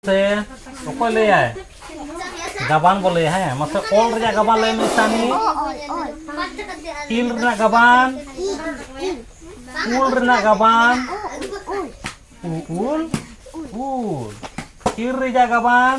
ᱥᱮ ᱚᱠᱚᱭ ᱞᱟᱹᱭᱟᱭ ᱜᱟᱵᱟᱱ ᱵᱚ ᱞᱟᱹᱭᱟ ᱦᱮᱸ ᱢᱟᱥᱮ ᱚᱞ ᱨᱮᱭᱟᱜ ᱜᱟᱵᱟᱱ ᱞᱟᱹᱭ ᱢᱮ ᱥᱟᱱᱤ ᱤᱞ ᱨᱮᱱᱟᱜ ᱜᱟᱵᱟᱱ ᱩᱞ ᱨᱮᱱᱟᱜ ᱜᱟᱵᱟᱱ ᱩᱞ ᱩᱞ ᱤᱞ ᱨᱮᱭᱟᱜ ᱜᱟᱵᱟᱱ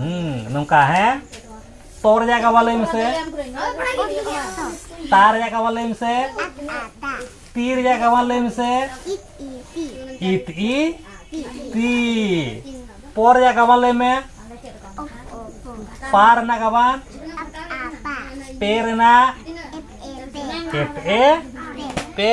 ᱦᱩᱸ ᱱᱚᱝᱠᱟ ᱦᱮᱸ ᱛᱚ ᱨᱮᱭᱟᱜ ᱠᱟᱵᱟ ᱞᱟᱹᱭ ᱢᱮᱥᱮ ᱛᱟ ᱨᱮᱭᱟᱜ ᱠᱟᱵᱟ ᱞᱟᱹᱭ ᱢᱮᱥᱮ ᱛᱤ ᱨᱮᱭᱟᱜ ᱠᱟᱵᱟ ᱞᱟᱹᱭ ᱢᱮᱥᱮ ᱤᱛ ᱤ ᱛᱤ ᱯᱚ ᱨᱮᱭᱟᱜ ᱠᱟᱵᱟ ᱞᱟᱹᱭ ᱢᱮ ᱯᱟ ᱨᱮᱱᱟᱜ ᱠᱟᱵᱟ ᱯᱮ ᱨᱮᱱᱟᱜ ᱮᱯ ᱮ ᱯᱮ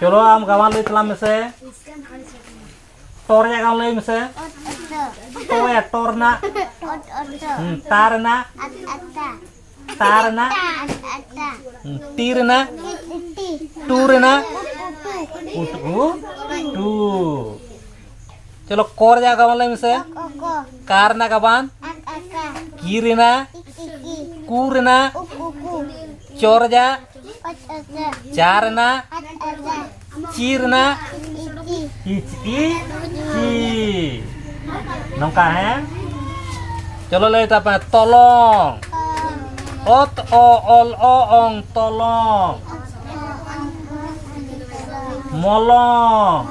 ᱪᱚᱞᱚ ᱟᱢ ᱜᱟᱣᱟᱱ ᱞᱟᱹᱭ ᱛᱟᱞᱟᱝ ᱢᱮᱥᱮ ᱴᱚ ᱨᱮᱭᱟᱜ ᱜᱟᱣᱟᱱ ᱞᱟᱹᱭ ᱢᱮᱥᱮ ᱴᱚ ᱭᱟ ᱴᱚ ᱨᱮᱱᱟᱜ ᱛᱟ ᱨᱮᱱᱟᱜ ᱛᱟ ᱨᱮᱱᱟᱜ ᱴᱤ ᱨᱮᱱᱟᱜ ᱴᱩ ᱨᱮᱱᱟᱜ ᱩᱴᱩ ᱴᱩ ᱪᱚᱞᱚ ᱠᱚ ᱨᱮᱭᱟᱜ ᱜᱟᱵᱟᱱ ᱞᱟᱹᱭ ᱢᱮᱥᱮ ᱠᱟ ᱨᱮᱱᱟᱜ ᱜᱟᱵᱟᱱ ᱠᱤ ᱨᱮᱱᱟᱜ ᱠᱩ ᱨᱮᱱᱟᱜ ᱪᱚ ᱨᱮᱭᱟᱜ ᱪᱟᱨᱱᱟ ᱪᱤᱨᱱᱟ ᱤᱪᱤ ᱪᱤ ᱱᱚᱝᱠᱟ ᱦᱮᱸ ᱪᱚᱞᱚ ᱞᱟᱹᱭ ᱛᱟᱯᱮ ᱛᱚᱞᱚᱝ ᱚᱛ ᱚ ᱚᱞ ᱚ ᱚᱝ ᱛᱚᱞᱚᱝ ᱢᱚᱞᱚᱝ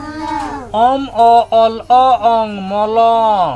ᱚᱢ ᱚ ᱚᱞ ᱚ ᱚᱝ ᱢᱚᱞᱚᱝ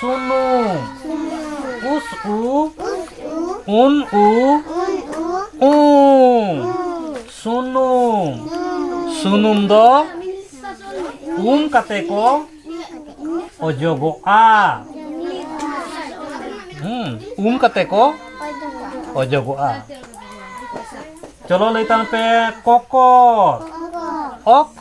ᱥᱩᱱᱩ ᱩᱥ ᱩ ᱩᱱ ᱩ ᱩ ᱥᱩᱱᱩᱢ ᱥᱩᱱᱩᱢ ᱫᱚ ᱩᱢ ᱠᱟᱛᱮ ᱠᱚ ᱚᱡᱚᱜᱚᱜᱼᱟ ᱦᱩᱸ ᱩᱢ ᱠᱟᱛᱮ ᱠᱚ ᱚᱡᱚᱜᱚᱜᱼᱟ ᱪᱚᱞᱚ ᱞᱟᱹᱭ ᱛᱟᱞᱟᱝ ᱯᱮ ᱠᱚᱠᱚᱨ ᱚᱠ